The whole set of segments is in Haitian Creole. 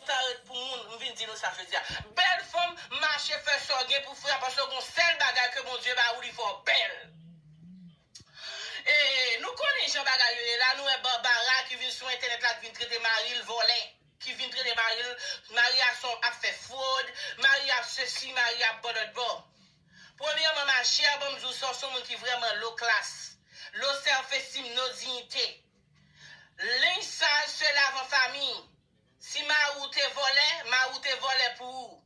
Sa ret pou moun, m vin di nou sa jodi a. Bèl fanm, mache fè sa w gen pou fè a paske gen yon sèl bagay ke Bondye ba ou li fè w bèl. E nou konnen jan bagay yo ye la, nou wè Barbara ki vin sou entènèt la ki vin trete mari l vòlè, ki vin trete mari l, mari a son ap fè fwod, mari a ap sesi, mari a ap bòlòdbò. Premyèman ma chère banm diw sa w son moun ki vrèman lo klas, lo self estime, no dignité. Linge sale se lave en famille. Si mari w te vòlè, mari w te vòlè pou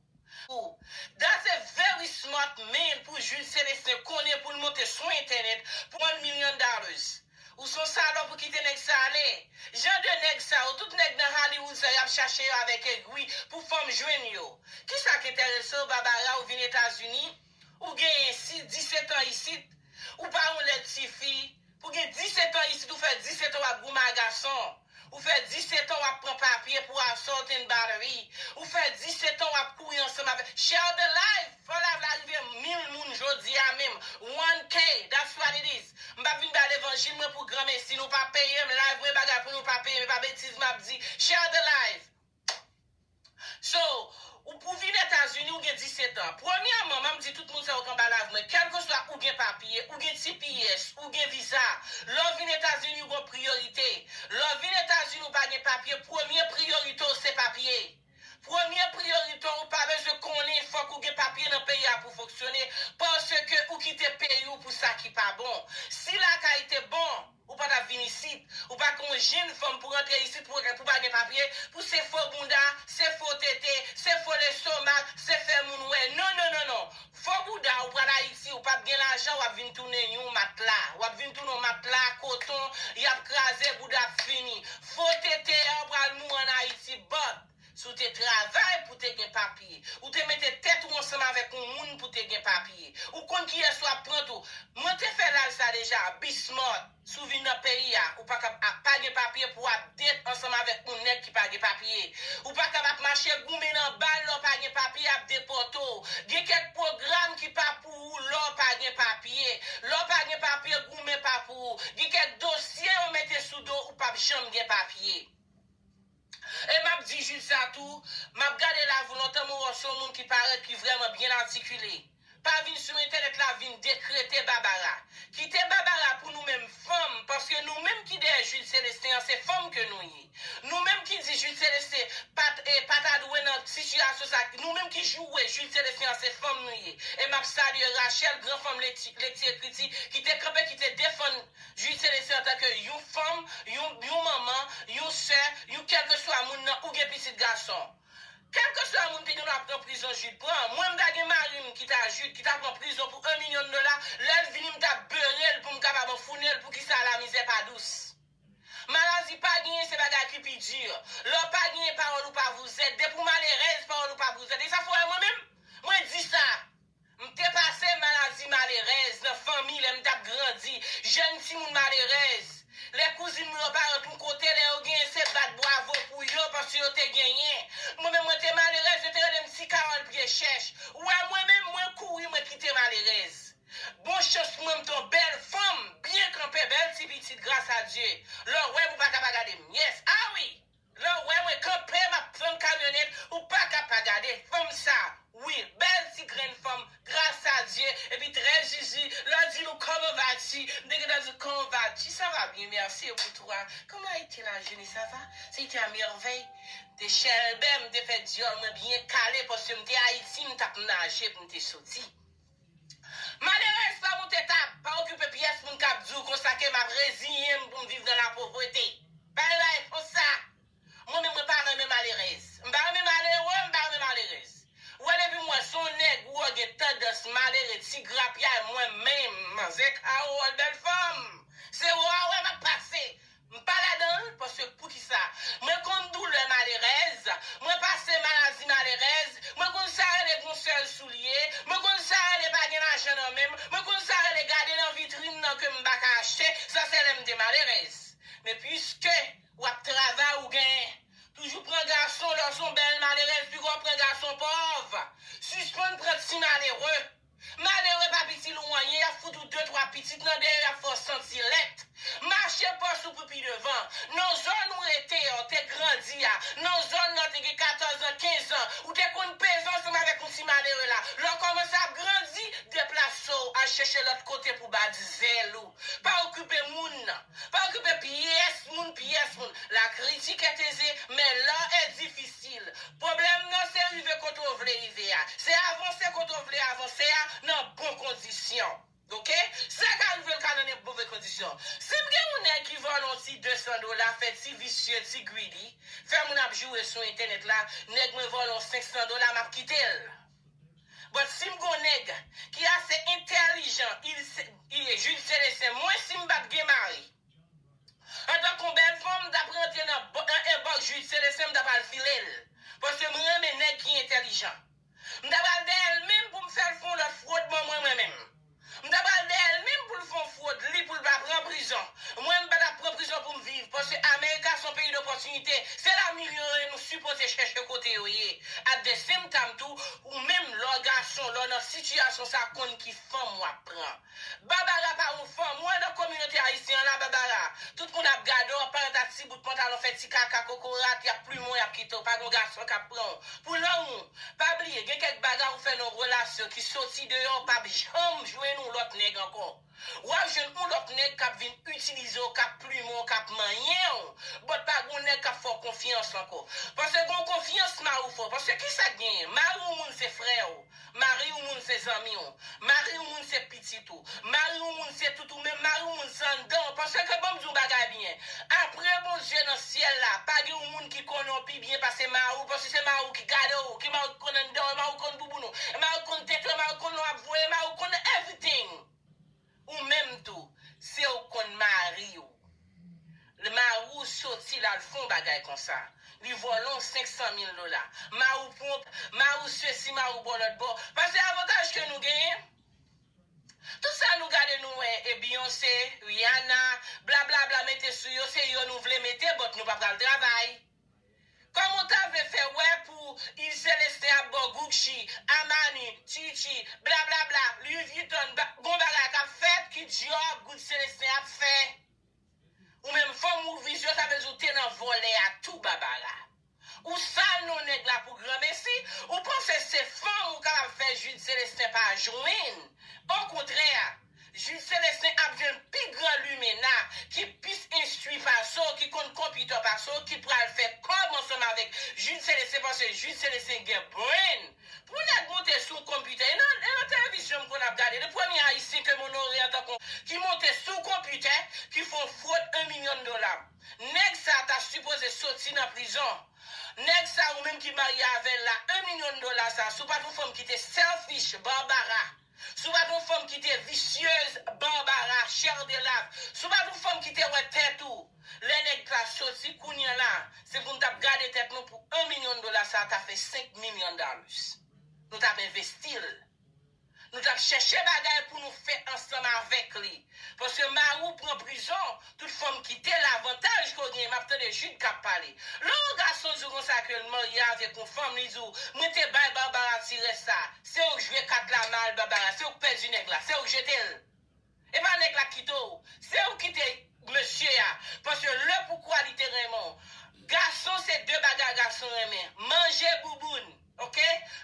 ou. That's a very smart man pou Jules Celestin konnen poul monte sou internet pwan million dollars. Ou son salop ou kite neg sa ale. Jan de neg sa yo tout neg nan Hollywood sa yap chache yo avek egwi pou fanm jwenn yo. Kisa k enteresew Barbara ou vin etazini ou genyen si 17 ans isit ou pa yon led tifi pou gen 17 ans isit ou fè 17 ans wap goumen a gason. Ou fè 17 ans wap pran papye pou assault and battery. Ou fè 17 ans wap kouri ansanm avèk Share the live! Fò live la rive 1000 moun jodi a menm. 1K! That's what it is. M pap vin bay levanjil mwen pou granmesi. Nou pa peyem. Live mwen bagay pou nou pa peyem. E pa betiz map di. Share the live! So, ou pou vin Etazini ou gen 17 an. Premyèman, map di tout moun sa yo k anba live mwen, kèlkeswa ou gen papye, ou gen tps, ou gen viza, lè w vin Etazini ou gon priyorite. Lè w vin Etazini ou pa gen papye, premye priyorite w se papye. Premye priyorite w ou pa bezwen konnen fòk ou gen papye nan peyi a pou fonksyone, paske ou kite peyi w pou sa ki pa bon. Si lakay te bon. Ou pa tap vin isit. Ou pa k on jenn fanm pou rantre isit pou pou pa gen papye, pou se fo bounda, se fo tete, se fo lestomak, se fè moun wè. Non non non non. Fo bouda ou pral Ayiti ou pap gen lajan wap vin tounen yon matla. Wap vin tounen yon matla koton, yap kraze bouda ap fini. Fo tete a ou pral mouri an Ayiti but. Si w te travay pou te gen papye. Ou te mete tèt ou ansanm avèk yon moun pou te gen papye. Ou konn kiyès w ap pran tou. Mwen te fè laj sa deja, be smart. Si w vin nan peyi a, ou pa kab ap pa gen papye pou w ap date ansanm avèk yon nèg ki pa gen papye. Ou pa kab ap mache goumen nan ba l lè w pa gen papye y ap depòte w. Gen kèk pwogram ki pa pou ou lè w pa gen papye. Lè w pa gen papye goumen pa pou ou. Gen kèk dosye yo mete sou do w ou p ap janm gen papye. E map di jij sa tou, map gade live ou lontan mwen wè w se yon moun ki parèt ki vrèman byen atikile. Pa vin sou entènèt la vin dekrete Babara. Kite Babara pou nou menm fanm paske nou menm ki dèyè Jude Celestin an se fanm ke nou ye. Nou menm ki di Jude Celestin pat e pa ta dwe nan sitiyasyon sa nou menm ki joure Jude Celestin an se fanm nou ye. E map salye Rachelle gran fanm lekti ekriti ki te kanpe ki te defann Jude Celestin antanke yon fanm, yon yon manman, yon sè, yon kèlkeswa moun nan ou gen pitit gason. Kèlkeswa moun pi nou la pran prizon Jude pran, mwen m ta gen mari m ki ta Jude ki ta pran prizon pou 1 milyon dola, lè l vini m ta beure l pou m kapab anfounen l poukisa lamizè pa dous. Maladi pa genyen se bagay ki pi dur. Lè w pa genyen pawòl ou pa vouzèt, depi w malerèz pawòl ou pa bouzèt. E sa fò wè mwen menm, mwen di sa. M te pase maladi malerèz nan fanmi lè m t ap grandi, jèn timoun malerèz. Lè kouzin m yo pa ant yon kote, lè yo genyen se bat bwavo pou yo paske yo te genyen. Mwen menm mwen te malerèz, yo te rele m ti Kawòl pye chèch. Ou wè mwen menm, mwen kouri mwen kite malerèz. Bon chans mwen m t yon bèl fanm, byen kanpe, bèl ti pitit gras a Dye. Lè w wè m ou pa ka pa gade m. Yes, ah wi! Lè ou wè mwen kanpe map flanm kamyonèt ou paka pa gade fanm sa wi bèl ti grenn fanm gras a Dye epi trè zizi lè ou di nou kòman va ti m te gentan di kòman va ti sa va byen mèsi e pou tou a kòman a ete la joune sa va se ete a mèvèy m te chèlbè m te fè dyòl mwen byen kale paske m te Ayiti m tap naje pou m te soti. Malerèz fèm ou te ta pa okipe pyès moun kap diw konsa ke map reziyenm poum viv nan la povrete pa gen bagay konsa mwen menm mwen pa renmen malerèz m pa renmen malere m pa renmen malerèz ou wè depim wè son nèg ou wè gen tandans malere ti grapyay mwen menm manzè Carole bèl fanm se ou a wè map pase M pa ladan l paske poukisa? Mwen konn doulè malerèz, mwen pase maladi malerèz, mwen konn sa rele gon sèl soulye, mwen konn sa rele pa gen lajan nan men m, mwen konn sa rele gade nan vitrin nan ke m pa ka achte, sa se lè m te malerèz. Men piske w ap travay ou gen, toujou pran gason lè w s on bèl malerèz piko w pran gason pòv. Sispann pran ti malere. Malere pa piti l ou anyen, y ap fout ou de twa pitit nan dèyè, y ap fè w santi lèt. Mache pòch ou pou pi devan. Nan zòn ou rete a, ou te grandi a, nan zòn la ou te gen katòz an, kenz an, ou te konn peze ansanm avèk yon ti malere la. Lè w kòmanse ap grandi, deplase w, al chèche lòt kote pou w bat zèl ou. Pa okipe moun nan. Pa okipe pyès moun pyès moun. La kritik est aisée, mais l'art est difficile. Pwoblèm nan se rive kote w vle rive a. Se avanse kote w vle avanse a nan bon kondisyon. Ok? Sa ka rive l ka nan nep move kondisyon. Si m gen yon nèg ki vòlò yon ti 200 dola fè ti visye, ti greedy, fè moun ap joure sou entènèt la, nèg mwen vòlò 500 dola m ap kite l. But sim gon neg ki ase entelijan il jude celestin mwen sim pat gen mari antan kon bel fanm mtap rantre nan inbox jude celestin mtap al filel paske m renmen neg ki entelijan mta pral dèyèl menm poum fèl fon lot frodman mwen mwen menm. M ta pral dèyèl minm poul fon frod li poul pa pran prizon mwen m patap pran prizon poum viv paske america son peyi dopòtinite se la minm yo ye nou sipoze chèche kote yo ye at the same time tou ou minm lèw gason lèw nan sitiyasyon sa konn ki fanm wap pran Barbara pa yon fanm ou wè nan kominote ayisyen an la Barbara tout moun ap gade w ap parèt ak ti bout pantalon fè ti kaka kokorat yap plumen w yap kite w pa gon gason kap pran w pou lang ou Pa bliye gen kèk bagay ou fè nan yon relasyon ki soti deyò ou pap janm jwenn yon lòt nèg ankò. Wap jwenn yon lòt nèg kap vin itilize w kap plumen w kap manyen w but pa gen yon nèg kap fè w konfyans ankò. Paske gen yon konfyans mari w fè w paske kisa k genyen mari yon moun se frè w mari yon moun se zanmi w mari yon moun se pitit ou. Mari yon moun se tout ou men mari yon moun se anndan w paske banm di yon bagay byen apre Bondye nan syèl la pa gen yon moun ki konnen w pi byen pase mari w paske se mari w ki gade w ki mari w ki konn anndan w e mari w konn bouboun ou e mari w konn tete w e mari w konn lè w ap voye e mari w konn everything ou menm tou se w konn mari w lè mari w soti l al fè yon bagay konsa li vòlò w 500 mil dola mari w pwonp mari w sesi mari w bò lòtbò paske avantaj ke nou genyen. Tout sa nou gade nou wè e Beyonce, Rihanna, bla bla bla mete sou yo se yo nou vle mete but nou pa pral travay. Kòman w ta vle fè wè pou Yves Celestin ap ba w Gucci, Armani, Tucci, bla bla bla, Louis Vuitton, gon bagay kap fèt ki Dior, Gucci Celestin ap fè. Ou menm fanm ou vizyon sa vle di ou te nan vòlè a tou Babara. Ou sal non nèg la pou granmesi, ou panse se fanm ou kapab fè Jude Celestin pa jwenn. Okontrè, Jude Celestin ap jwenn pi gran limena ki pis enstwi pase w, ki konn konpitè pase w ki pral fè kòb ansanm avèk Jude Celestin paske Jude Celestin gen brain. Pou nèg moute sou konpitè. E nan e nan television m konn ap gade le premye ayisyen ke m onore antan kon ki moute sou konpitè ki fon frod 1 milyon dola. Nèg sa ta sipoze soti nan prizon. Nèg sa ou menm ki marye avèl la 1 milyon dola sa sou pat yon fanm ki te selfish Barbara. Si w pa t yon fanm ki te visyeuz, Barbara, Chère de Lave, si w pa t yon fanm ki te wè tèt ou lè nèg t la soti, kounye la, se pou n t ap gade tèt nou pou 1 milyon dola sa a ta fè 5 million dollars. Nou t ap envesti l. Nou t ap chèche bagay pou nou fè ansanm avèk li. Paske mari w pran prizon, tout fanm kite l avantaj ke w genyen map tande Jude kap pale. Lè yon gason di w konsa ke l marye avèk yon fanm li di w mwen te bay Barbara ti rès sa, se ou k jwe kat la mal Barbara, se ou k pèdi nèg la, se ou k jete l. E pa nèg la k kite w, se ou k kite mesye a, paske lè poukwa li te renmen w. Gason se de bagay gason renmen, manje bouboun. Ok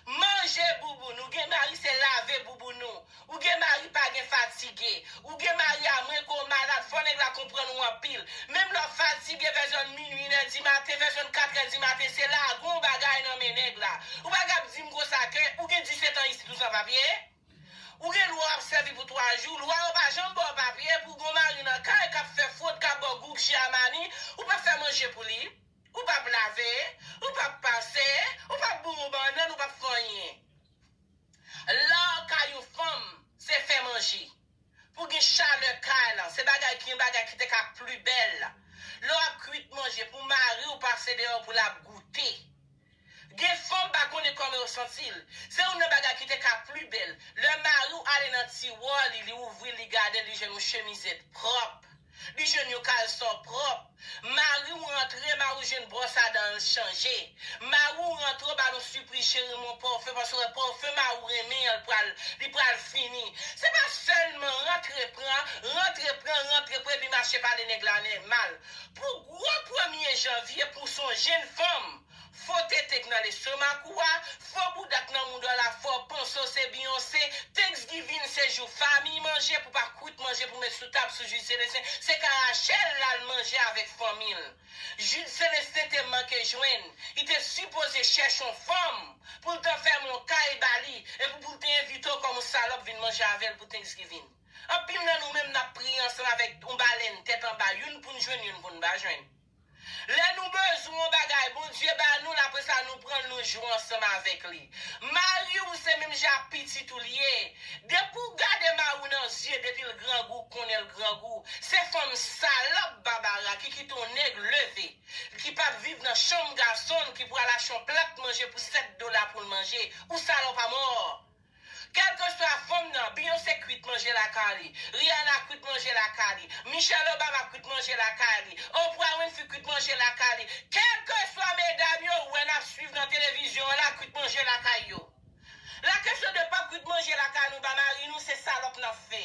manje bouboune ou gen mari se lave bouboune ou ou gen mari pa gen fatige ou gen mari a mwen ke w malad fò nèg la konprann ou anpil menm lè w fatige vè zòn minwi 1 è di maten vè zòn 4 è di maten se lagon w bagay nan men nèg la ou pa ka ap di m konsa ke ou gen 17 ans isit ou san papye ou gen lwa w ap sèvi pou 3 jou lwa yo pa janm ba w papye pou w gen w mari nan kay k ap fè fwod k ap ba w goug chiamani ou pa fè manje pou li. Ou pap lave, ou pap pase, ou pap bou yon bannann, ou pap fè anyen. Lar kay yon fanm, se fè manje. Pou gen chalè kay lan, se bagay ki yon bagay ki te ka pli bèl. Lè w ap kuit manje pou mari w pase deyò pou l ap goute. Gen fanm pa konnen kòman yo santi l. Se youn nan bagay ki te ka pli bèl. Lè mari w ale nan tiwa li, li ouvri l, li gade l, li jwenn yon chemizèt pwòp. Li jwenn yon kalson pwòp. Mari w rantre, mari w jwenn bwòs a dan l chanje. Mari w rantre, w ba l yon sipriz cheri m yon pòfen paske w wè pòfen mari w renmen an l pral, li pral fini. Se pa sèlman rantre pran, rantre pran, rantre pran epi mache pale nèg la nè mal. Pou gwo premye janvye pou w son jenn fanm. Fo tete k nan lestomak ou a, fo bouda k nan moudal la fo panse w se Beyonce, Thanksgiving se jou famiy manje pou pa kwit manje pou met sou tab sou Jude Celestin, se ka Rachel lal manje avek fanmi l. Jude Celestin te manke jwenn, li te sipoze chèche yon fanm pou l t fèmen yon kay ba li epi pou l te envite w kòm yon salòp vin manje avè l pou Thanksgiving. Anpil nan nou menm nap priye ansanm avek yon balèn tèt anba youn poun jwenn youn poun pa jwenn. Lè nou bezwen yon bagay, Bondye ba nou l, apre sa nou pran l nou jwe ansanm avèk li. Mari w se menm jan ak pitit ou l ye. Depi w gade mari w nan zye depi l grangou w konnen l grangou. Se fanm salòp Babara ki kite yon nèg leve l ki pap viv nan chanm gason l ki pral achte yon plat manje pou 7 dola pou l manje. Ou salòp amò! Kelkeswa fanm nan, Beyoncé kwit manje lakay li, Rihanna kwit manje lakay li, Michelle Obama kwit manje lakay li, Oprah Winfrey kwit manje lakay li, kelkeswa medam yo ou wè nap swiv nan televizyon an la kwit manje lakay yo. La kesyon de pa kwit manje lakay nou ba mari nou se salòp nap fè.